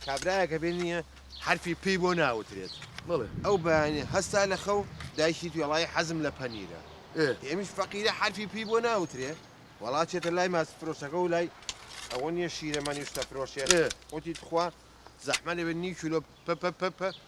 کابرایەک هەبێ نییە حەرفی پێی بۆ ناوترێت. بەڵێ. ئەو بەیانییە هەستا لە خەو، دایکی وتی وەڵاهی حەزم لە پەنیرە. ئێ ئەمیش فەقیرە حەرفی پێی بۆ ناوترێ. وەڵا چێتە لای ماسفرۆشەکە و لای ئەوە نییە شیرەمەنی و شتەفرۆشێ. ئێ. وتی تخوا زەحمەت نەبێ نیو کیلۆ پ پ پ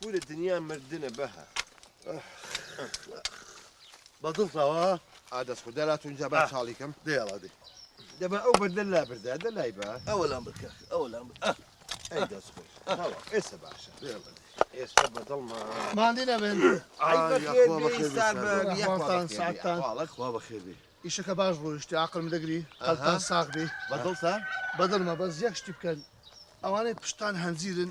کورە دنیا مردنە بە هە بە دڵتەوە ئادەست خو دەلات اونجا با چاڵیکەم دێڵا دێ دەبا ئەو بەردە لا بردا دە لای بە ئەوە لام بکە ئەوە لام ئەی دەست خۆش ئێستا باشە ئێستا بە دڵما ماندی نەبن خوا بەخێبی ئیشەکە باش ڕۆیشتی عقلم دەگری هەڵتان ساغبی بە دڵتە بە دڵمە بەس یەک شتی بکەن ئەوانەی پشتان هەنجیرن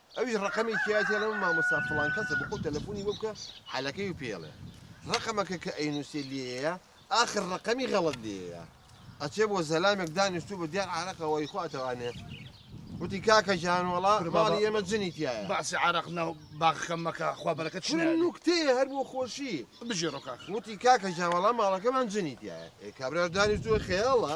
ئەویش ڕەقەمی کێیەتی ئەڵێ مامۆستا فڵان کەسە بخۆ تەلەفونی بۆ بکە حالەکەی و پێڵێ ڕەقەمەکە کە ئەینوسێ لێیە ئاخر ڕەقەمی غەڵەت لێیە ئەچێ بۆ زەلامێک دانیشتو بە دیار عارەقەوەی خۆ ئەتەوانێ وتی کاکە جان وەڵا ماڵی ئێمە جنی تایە باسی عراق ناو باخەکەم مەکە خوا بەرەکە چ نوکتەیە هەر بۆ خۆشی بژێڕۆ کاک وتی کاکە جان وەڵا ماڵەکەمان جنی تایە ئێ کابرا دانیشتووە خەیاڵە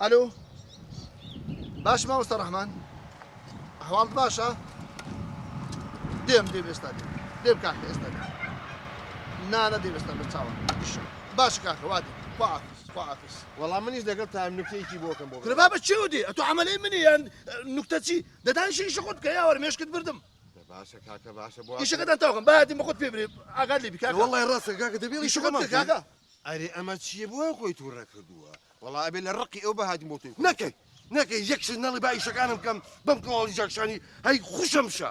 ئەلۆ باش مامۆستا ڕەحمان هەواڵت باشە دێم دێم ئێستا دێم دێم کاکە ئێستا دێم نانە دێم ئێستا بە چاوە باش کاکە وا دێم خواحافیز خواحافیز وەڵام منیش لەگەڵ تا نوکتەیەکی بۆکەم بۆ تربا بە چێو دێ ئەتۆ عملەی منی یان نوکتە چی دەدان شیش خۆت کە یاوەر مێشکت بردم باشە کاکە باشە بۆ ئیشەکەتان تاوکەم باەتی بە خۆت پێ برێ ئاگات لێ بکە وڵی ڕاستە کاکە دەبێت ئیشەکەمان کاکە ئەرێ ئەمە چییە بۆ خۆی تووڕە کردووە وەڵا ئەبێ لە ڕقی ئەو بەهاتم بۆ تۆی نەکەی نەکەی یەک شت نەڵی با ئیشەکانم بکەم بەم کەواڵی جاکشانی هەی خوشم شە.